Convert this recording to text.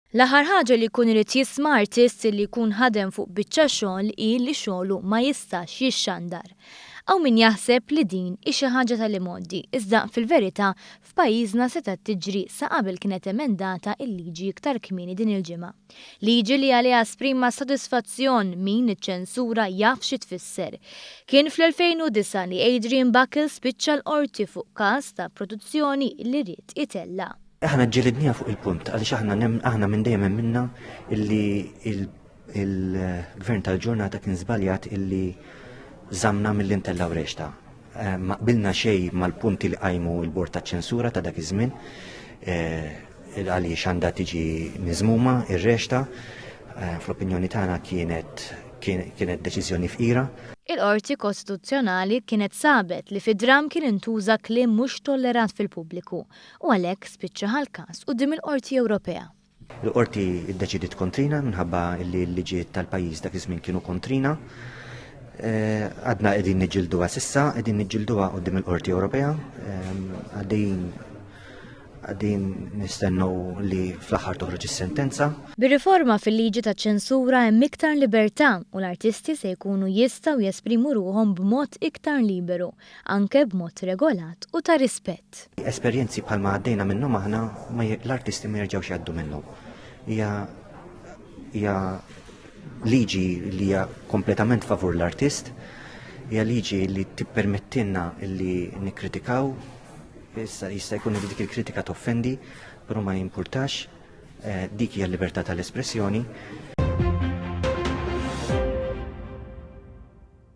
L-aħħar ħaġa li jkun irid jisma' artist li jkun ħadem fuq biċċa xogħol hi li xogħlu ma jistax jixxandar. Hawn min jaħseb li din hi xi ħaġa tal-imgħoddi, iżda fil-verità f'pajjiżna setgħet tiġri sa qabel kienet emendata l-liġi iktar kmieni din il-ġimgħa. Liġi li għaliha esprima sodisfazzjon min iċ-ċensura jaf xi tfisser. Kien fl-2009 li Adrian Buckle spiċċa l-Qorti fuq każ ta' produzzjoni li ried itella'. Aħna ġġilidniha fuq il-punt għaliex aħna aħna minn dejjem emminna illi il-Gvern tal-ġurnata kien żbaljat illi żammna milli ntellgħu rexta. Eh, ma qbilna xej mal-punti li qajmu l-bord ta' ċensura ta' dak iż-żmien eh, għaliex għandha tiġi miżmuma ir-rexta eh, fl-opinjoni tagħna kienet kienet deċiżjoni fqira. Il-Qorti Kostituzzjonali kienet sabet li fid-dram kien intuża kliem mhux tollerat fil-pubbliku u għalhekk spiċċa ħal-każ quddiem il-Qorti Ewropea. Il-qorti ddeċidiet kontrina minħabba li l-liġijiet tal-pajjiż dak iż-żmien kienu kontrina. Eh, għadna qegħdin niġġilduha sissa, qegħdin niġġilduha qudiem il-Qorti Ewropea, ehm, għaddejjin għaddin nistennu li fl-aħħar toħroġ is-sentenza. Bir-riforma fil-liġi ta' ċensura hemm iktar libertà u l-artisti se jkunu jistgħu jesprimu ruhom b'mod iktar liberu. anke b'mod regolat u ta' rispett. Esperjenzi bħal ma għaddejna minnhom aħna l-artisti ma jerġgħux jgħaddu minnhom. Hija hija liġi li hija kompletament favur l-artist, hija liġi li tippermettilna li nikkritikaw, issa jista' jkun li dik il-kritika toffendi, però ma jimpurtax, eh, dik hija l-libertà tal-espressjoni.